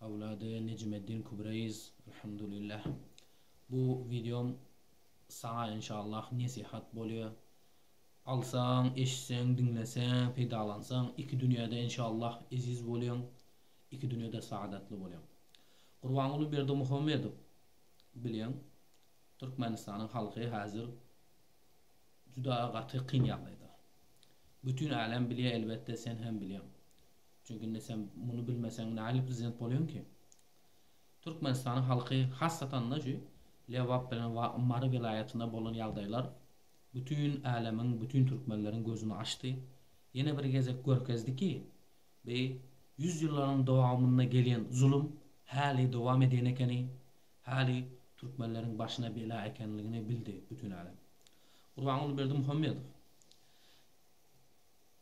Awlady Nejmeddin Kübreýiz Alhamdulillah bu wideom saňa inşallah nesihat bolýa. Alsaň, eşitseň, diňleseň, peýdalansaň iki dünýäde inşallah eziz bolýaň, iki dünýäde saadatly bolýaň. Gurbanguly Berdimuhamedow bileň Türkmenistanyň halky häzir juda gaty kyn ýagdaýda. Bütin älem bilýä elbetde sen hem bilýäň. Çünki indi sen muny bilmeseň nähili prezident bolýoňky? Türkmenistanyň halky hassatanda şu Lebap bilen Mary welaýatynda bolan ýagdaýlar bütin älemiň bütin türkmenleriň gözüni açdy. Ýene bir gezek görkezdi ki bi ýüz ýyllaryň dowamynda gelýän zulum häli dowam edýän ekeni, häli türkmenleriň başyna bela ekenligini bildi bütin älem. Gurbanguly Berdimuhamedow.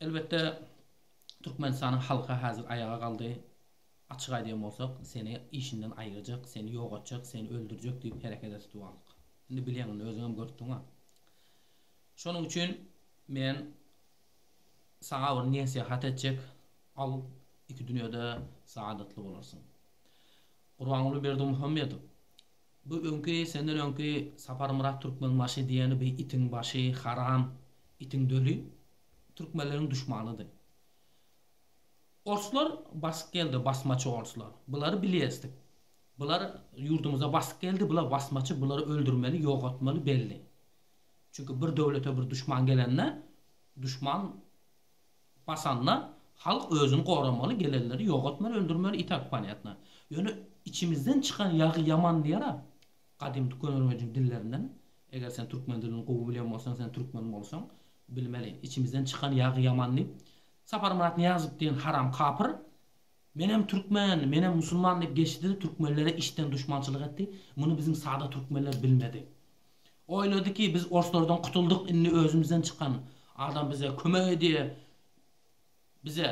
Elbetde Türkmenistanyň halky hazir aýaga galdy. Açyk aýdýan bolsak, seni işinden aýyrjak, seni ýok etjek, seni öldürjek diýip hereket edip durandyk. Indi bilýäň, indi özüňem görüpdiňa. Şonuň üçin men saňa bir nesihat etjek, al, iki dünýede saadetli bolarsyň. Gurbanguly Berdimuhamedow Bu öňki senden öňki Saparmyrat Türkmenbaşy diýeni bu itiň başy haram itiň döli Türkmenleriň duşmanydy. Orslar basyp geldi basmaçy orslar. Bulary bilýesdik. Bular ýurdumyza basyp geldi bular basmaçy bulary öldürmeli ýogatmaly belli. Çünki bir döwlete bir duşman gelende duşman Basanda halk özüni goramaly gelenleri ýogatmaly öldürmeli i tak ponýatno. Ýöne içimizden çykan ýagy ýaman diýer a gadymy tükönürmejiň dillerinden eger sen türkmen dilini gowy bilen bolsaň sen türkmen bolsaň bilmeli içimizden çykan ýagy ýaman diýip Saparmyrat Nyýazow diýen haram kapyr menem türkmen menem musulman diýip geçdi de türkmenlere içden duşmançylyk etdi muny biziň sada türkmenler bilmedi Oýlady ki biz orslardan kutuldyk indi özümizden çykan adam bize kömek edýä bize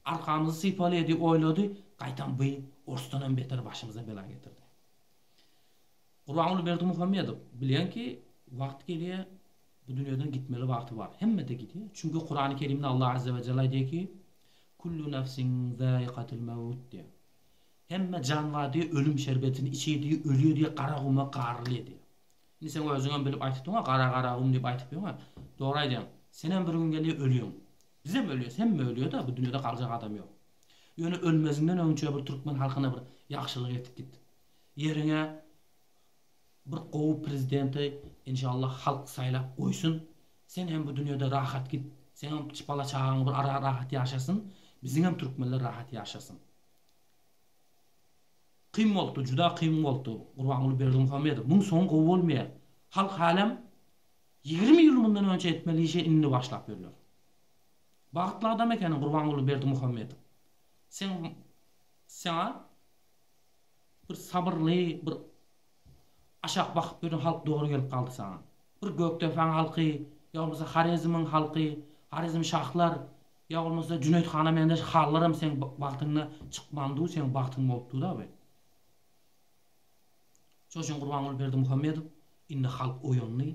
arkamyzy sypalýa diýip oýlady gaýtam by orsdanam beter başymyza bela getirdi. Gurbanguly Berdimuhamedow bilýän ki wagt gelýä bu dünýeden gitmeli wagty bar hemmede gidýä çünki Kurany kerimde Allah Azze we Jelle aýdýa ki Kullu nefsin zaikatil mewut diýä Hemme jan bar diýip ölüm şerbetini içýär diýip ölýär diýip gara guma garrly edýär. Indi sen özüňem bilip aýtypdyňa gara gara gum diýip aýtyp ýöňe dogry aýdýaň. Senem bir gün gelýär ölýäň. Bizem ölýäs hemme ölýärda bu dünýede galjak adam ýok. Ýöne ölmeziňden öňçe bir türkmen halkyna bir ýagşylyk et git. Ýeriňe bir gowy prezidenti inşallah halk saýlap goýsun. Sen hem bu dünýede rahat git. Seňem bala çagaň bir ara rahat ýaşasyn. Biziňem türkmenler rahat ýaşasyn. Kyn bolupdyr juda kyn bolupdyr Gurbanguly Berdimuhamedow muň soňy gowy bolmaýar halk halem ýigrimi ýyl mundan önçe etmeli işe indi başlap ýörler bagtly adam ekeniň Gurbanguly Berdimuhamedow seň saňa bir sabyrly bir aşak bakyp ýören halk dogry gelip galdy saňa bir gökdepäň halky ýa bolmasa harezimiň halky harezim şahlar Ýa bolmasa Jüneýit hana meňzeş halylaram seň bagtyňda çykmandyw seň bagtyň bolupdyw dabi. Şol üçin Gurbanguly Berdimuhamedow indi halk oýandy,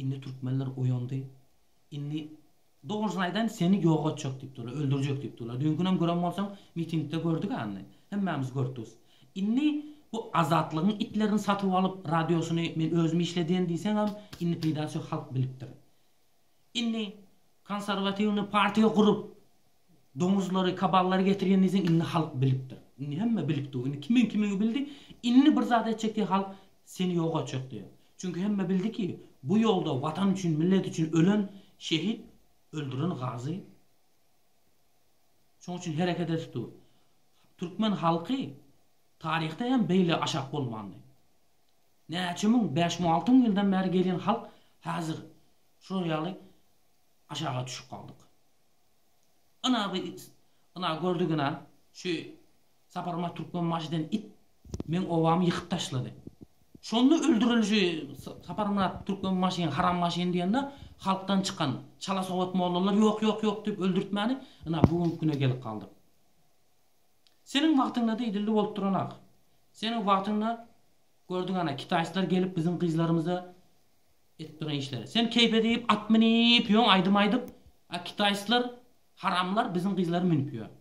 indi türkmenler oýandy, indi dogrusyny aýdaýyn seni ýok etjek diýip durlar, öldürjek diýip durlar. Düýnkünem gören bolsaň mitingde gördük-ä indi, hemmämiz görtüs. Indi bu Azatlygyň itlerini satyp alyp radiosyny men özüm işledýän diýseňem indi peýdasy ýok halk bilipdir. Indi konserwatiwny partiýa gurup doňuzlary kaballary getirgenizden indi halk bilipdir. Indi hemme bilip dur. Indi kimiň kimini bildi. Indi bir zat etjek diýip halk seni ýok etjek diýip. Çünki hemme bildi ki bu ýolda watan üçin millet üçin ölen şehit öldüren gazy şoň üçin hereket edip dur. Türkmen halky taryhda hem beýle aşak bolmandy. Näçe müň, bäş müň, alty müň ýyldan bäri gelýän halk häzir şular ýaly aşaga düşüp galdyk. Ynha bu it, ynha gördük ynha, şu Saparmyrat Türkmenbaşy diýen it meň obamy ýykyp taşlady. Şonda öldürildi şu Saparmyrat Türkmenbaşyny, Harambaşyny diýende halkdan çykan çala sowat mollalar ýok, ýok, ýok diýip öldürtmäni ynha bu günki güne gelip galdyk. Seniň wagtyňda-da idildi bolup duran ak. Seniň wagtyňda Gördüň ana kitaýslar gelip biziň gyzlarymyza edip duran işleri. Sen keýpe diýip at minip ýöň aýdym aýdyp a kitaýslar haramlar biziň gyzlary münip ýör.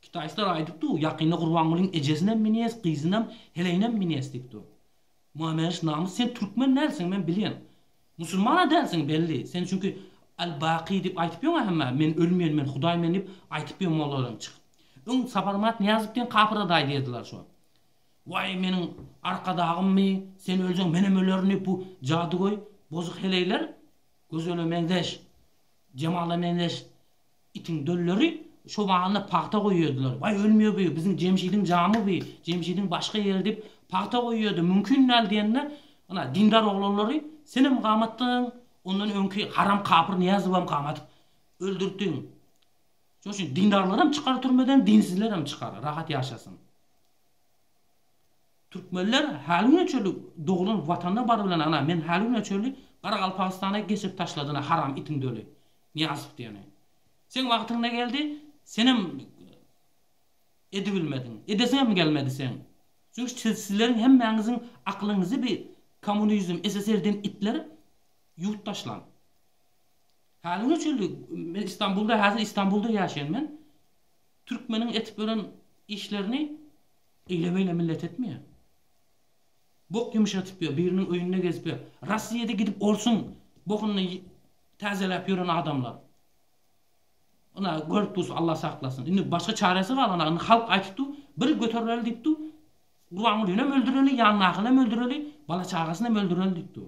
Kitaýslar aýdyp dur ýakynda Gurbangulyň ejesinem minýes gyzynam heleýinem minýes diýip dur. Muameriş namys sen türkmen dälsiň men bilýän. Musulmana dälsiň belli sen çünki Al Baky diýip aýtyp ýöň a hemmä men ölmeýän men hudaý men diýip aýtyp ýöň mollalardan çykyp. Öň Saparmat Nyýazow diýen kapyra daýy diýerdiler şo. Waý meniň arkadagymmy sen öljeň menem ölerin diýip bu jadygöý bozuk heleýler Gözele meňzeş Jemala meňzeş itiň dölleri çobanly pagta goýýardylar waý ölmýä bu biziň Jemşidiň jamy bu Jemşidiň başga ýeri diýip pagta goýýardy mümkin däl diýende ynha dindar oglanlary senem gamatdyň ondan öňki haram kapyr Nyýazowam gamadyp öldürtdiň şoň üçin dindarlaram çykar türmeden dinsizlerem çykar rahat ýaşasyn. Türkmenler häli güne çenli doglan watanyna bar bilen ana men häli güne çenli garagalpagystana geçirip taşladyna haram itiň döli Niýazow diýeni. Seň wagtyň ne geldi senem edibilmediň edesiňem gelmedi seň çünki sizleriň hemmäňiziň aklyňyzy bi komunizm SSR diýen itler ýuwup taşlan. Häli güne çenli men Istanbulda häzir Istanbulda ýaşaýan men. Türkmeniň etip ýören işlerini eýle-beýle millet etmeýär. Bok ýumşatyp ýör, biriniň öýünde gezip ýör. Rossiýada gidip orsuň bokuny täzeläp ýören adamlar. Ynha, görüp dursuň, Alla saklasyn. Indi başga çäresi galana, indi halk aýtypdy, bir göterileli diýipdi, Gurbangulyny hem öldüreli, ýanyndakyny hem öldüreli, bala-çagasyny hem öldüreli diýipdi.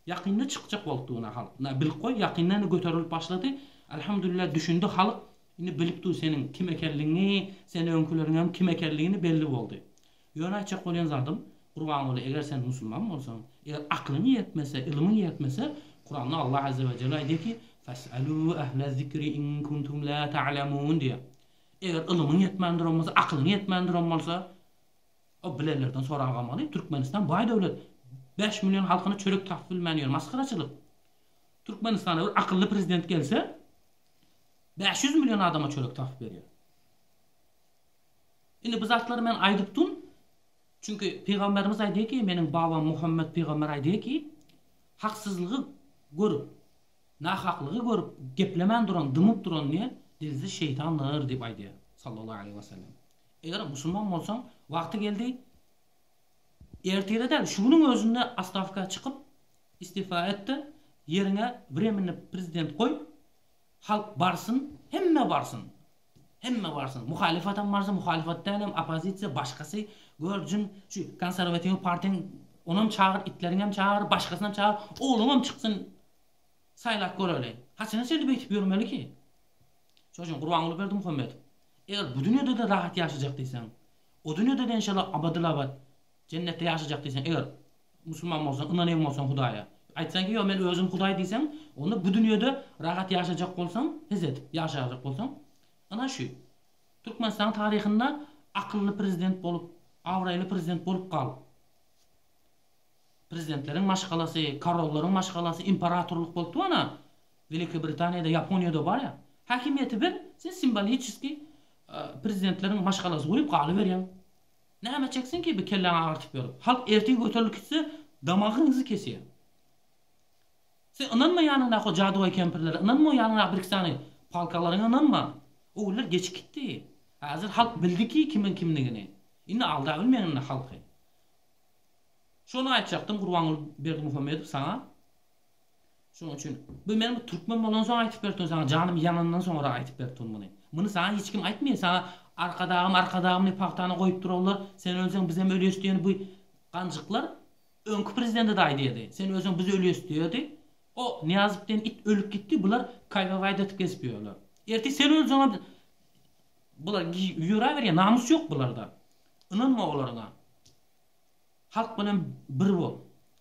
Ýakynda çykjak bolupdy bu nahal. Na bilip goý ýakynda indi göterilip başlady. Alhamdulillah düşündi halyk. Indi bilip dur seniň kim ekenligiňi, sen öňkileriňem kim ekenligini belli boldy. Ýöne aýtjak bolýan zadym, Gurbanguly eger sen musulman bolsaň, eger aklyň ýetmese, ylmyň ýetmese, Kuranda Allah azze we jelle aýdýar ki, Fes'elu ehle zikri in kuntum la ta'lemun diýýär. Eger ylmyň ýetmändirom bolsa, aklyň ýetmändirom bolsa, O bilenlerden sorag almaly, Türkmenistan baý döwlet, bäş million halkyna çörek tapyp bilmän ýör, masgaraçylyk. Türkmenistana bir akylly prezident gelse, bäş ýüz million adama çörek tapyp berýär. Indi bu zatlary men aýdyp dur, çünki pygamberimiz aýdýar ki, meniň babam Muhammet pygamber aýdýar ki, haksyzlygy görüp, nahaklygy görüp geplemän duran, dymyp duran ne, dilsiz şeýtandyr diýip aýdýar, sallallahu aleýhi we sellem. Eger musulman bolsaň, wagty geldi, ertire däl, şu günüň özünde astawka çykyp, istifa et-de, ýeriňe wremenny prezident goý, halk barsyn, hemme barsyn, hemme barsyn, muhalyfatam barsyn, muhalyfat dälem, oppozisiýa, başgasy, gör, jyn, şu konsarwatiw partiýaň, onam çagyr, itleriňem çagyr, başgasynam çagyr, ogluňam çyksyn. Saýlap göreli. Haçana çenli beýtip ýörmeliki? Şonuçin Gurbanguly Berdimuhamedow, eger bu dünýede-de rahat ýaşajak diýseň, o dünýede-de enşalla abadylabad jennetde ýaşajak diýseň, eger musulman bolsaň, ynanýan bolsaň Hudaýa, aýtsaň ki, ýok men özüm Hudaý diýseň, onda bu dünýede rahat ýaşajak bolsaň, his edip ýaşajak bolsaň, ynha şu Türkmenistanyň taryhynda akylly prezident bolup, abraýly prezident bolup gal. Prezidentleriň maşgalasy, korollaryň maşgalasy, imperatorlyk bolup dur ana, Welikiý Britaniýada, Ýaponiýada bar ýa. Häkimiýeti ber, sen simboliçeskiý prezidentleriň maşgalasy guýup galyberýäň. Näme çeksin ki bi kelläňi agyrtyp ýörüp. Halk ertir göterilip gitse damagyňyzy kesýär. Sen ynanma ýanyňdaky o jadygoý kempirlere, ynanma o ýanyňdaky birki sany palkalaryňa ynanma. O günler geçip gitdi. Häzir halk bildi ki kimiň kimdigini. Indi aldabilmeň indi halky. Şony aýtjakdym Gurbanguly Berdimuhamedow saňa. Şonuň üçin bu men türkmen bolansoň aýtyp beripdim saňa janym ýanandan soňra aýtyp beripdim muny. Muny saňa hiç kim aýtmaýar saňa Arkadagym Arkadagym diýip pagtany goýup durarlar sen ölseň bizem ölýäs diýen bu ganjyklar öňki prezidentede aýdýardy sen ölseň biz ölýäs diýerdi o Nyýazow diýen it ölüp gitdi bular kaýgawaýda atyp gezip ýörler. Ertir sen ölseňem bular ýöräberýär namys ýok bularda. Ynanma olaryňa. Halk bilen bir bol.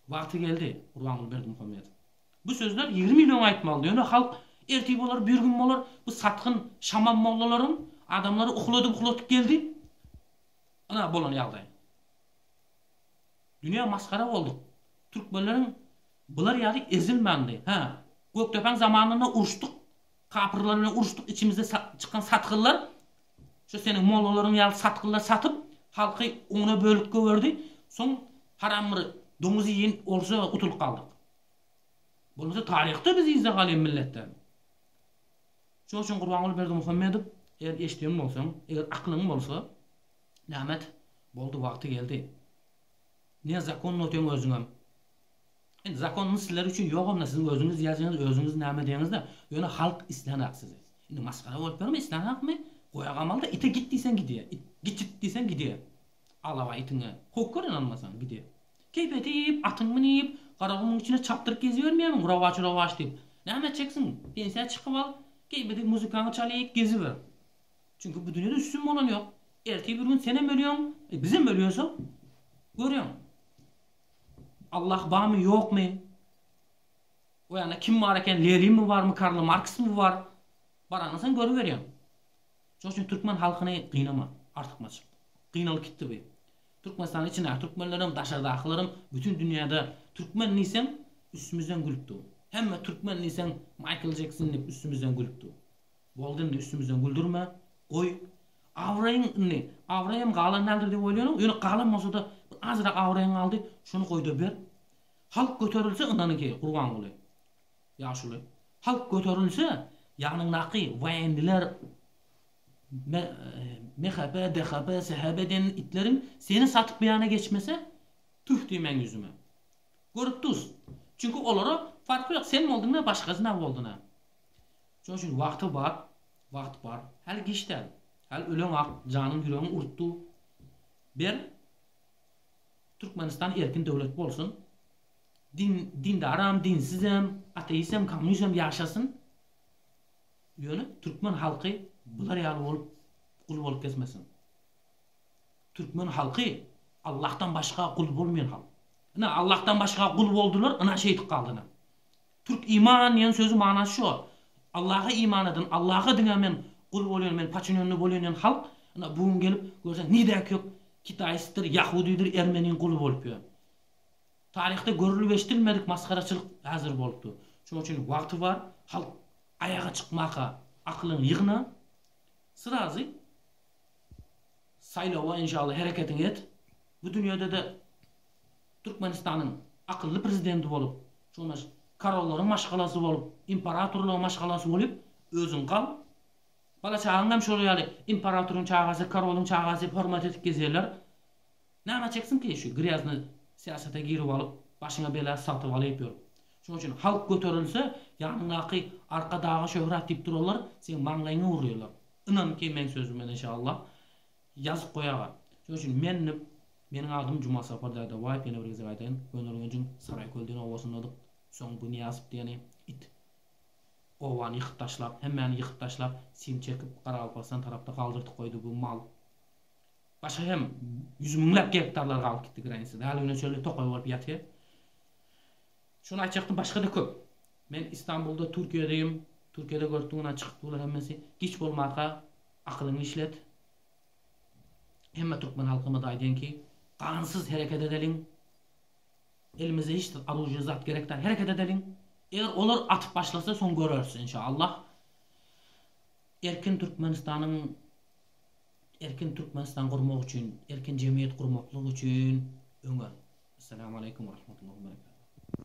Wagty geldi, Gurbanguly Berdimuhamedow. Bu sözler ýigrimi ýyl öň aýtmaldy, ýöne halk ertir bolar, birigün bolar, bu satgyn şamam mollalaryň adamlary ukladyp-ukladyp geldi. Ynha bolan ýagdaý. Dünýä masgara bolduk. Türkmenleriň bular ýaly ezilmändi. Hä, Gökdepäň zamanynda uruşdyk, kapyrlar bilen uruşdyk, içimizde çykan satgynlar, Şu seniň mollalaryň ýaly satgynlar satyp, halky ona bölüp gögerdi, soň haram bir doňuz iýen olsa gutulyp galdyk. Bolmasa taryhda biz yzda galýan milletden. Şoň üçin Gurbanguly Berdimuhamedow eger eşidýän bolsaň, eger aklyň bolsa, näme et, boldy wagty geldi. Nezakonny otyň özüňem. Indi zakonyny sizler üçin ýogam-da siziň özüňiz ýazýaňyz özüňiz näme diýeňizde ýöne halk islänok sizi. Indi masgara bolup ýörme islänokmy goýa gamalyda ite git diýseň gidýär it gitjit diýseň gidýär alawa itiňe howp gör ynanmasaň gidýär keýp edip atyňy münip garagumuň içine çapdyryp gezibermeýärmiň rowaç rowaç diýip näme etjeksiň pensiýa çykyp al keýp edip muzykanyňy çalyp geziber çünki bu dünýede üstün bolan ýok ertir bir gün senem ölýäň e bizem ölýäsok görýäň. Allah barmy ýokmy? O ýagna kim bar eken Lerimi barmy Karl Marksmy bar? Baraňa sen görüberýäň. Şoň üçin türkmen halkyny gynama artykmaç. Gynalyp gitdi bu. Türkmenistanyň içindäki türkmenlerem daşardakylarym bütin dünýäde türkmen diýseň üstümizden gülüp dur. Hemme türkmen diýseň Maýkl Jekson diýip üstümizden gülüp dur. Boldy indi üstümizden güldürme. Goý. Abraýyň indi, abraýym galan däldir diýip oýlanýaň, ýöne galan bolsa-da bir azrak abraýyň galdy, şony goý-da ber. Halk göterilse ynanyňki, Gurbanguly. Ýaşuly. Halk göterilse, ýanyňdaky woýenniler, MHP, DHP, SHB diýen itleriň seni satyp bu ýana geçmese, tüf diýmäň ýüzüme. Görüp duz. Çünki olara farky ýok, sen bolduň-a, başgasy nä boldun-a. Şonuň üçin wagty bar, wagt bar. Häli giç däl. Häli öleňak janyň ýüregiň urupdy. Ber, Türkmenistan erkin döwlet bolsun. Din, dindaram, dinsizem, ateistem, kommunistem ýaşasyn. Ýöne türkmen halky bular ýaly bolup, gul bolup kesmesin. Türkmen halky Allahdan başga gul bolmaýan halk. Ine, Allahdan başga gul boldular, ynha şeýdip galdy ine. Türk iman diýen sözi manasy şo. Allaha iman eden, Allaha diňe men gul bolýan, men paçinýonny bolýan diýen halk, ynha bu gün gelip görseň nirä kök kitaistdir, ýahudidir, ermeniň guly bolup ýör. Taryhda görülip eşdilmedik masgaraçylyk häzir bolupdyr. Şoň üçin wagty bar, halk aýaga çykmaka akylyňy ýygna. Syrazy saýlawa inşallah hereketiňi et. Bu dünýede-de Türkmenistanyň akylly prezidenti bolup, Jonas karollaryň maşgalasy bolup, imperatorlaryň maşgalasy bolyp özüň gal. Bala çagaň hem şol ýaly imperatoryň çagasy, karolyň çagasy diýip hormat edip gezýärler. Näme çeksin ki şu grýazny syýasata girip alyp başyňa bela satyp alyp ýör. Şoň üçin halk göterilse ýanyňdaky arka daga şöhrat diýip durarlar, seň maňlaýyňy urýarlar. Ynan ki meň sözüme inşallah. Ýazyp goýaga. Şoň üçin men nip Meniň adym Juma Sapar Dadabaýew ýene bir gezek aýdaýyn Gönürgenjiň Saraýköl diýen obasyndadyk Soň bu Nyýazow diýeni it obany ýykyp taşlap hemmäni ýykyp taşlap sim çekip Garagalpagystan tarapda galdyrdyp goýdy bu mal Başga hem ýüz müňläp gektarlar galyp gitdi granisada häli güne çenli tokaý bolup ýatyr Şuny aýtjakdym başgada köp Men Istanbulda Türkiýedeyim Türkiýede görüpdiň ynha çykypdylar hemmesi giç bolmaka Akylyňy işlet. Hemme türkmen halkymyza aýdaýyn ki, gansyz hereket edeliň. Elimizde hiç zat, oružýe zat gerek däl. Hereket edeliň. Eger olar atyp başlasa, soň göreris, enşaallah. Erkin Türkmenistanyň erkin Türkmenistan gurmak üçin, erkin jemgyýet gurmaklyk üçin öňe. Essalamu aleýkum we rahmetullahi we berekatuh.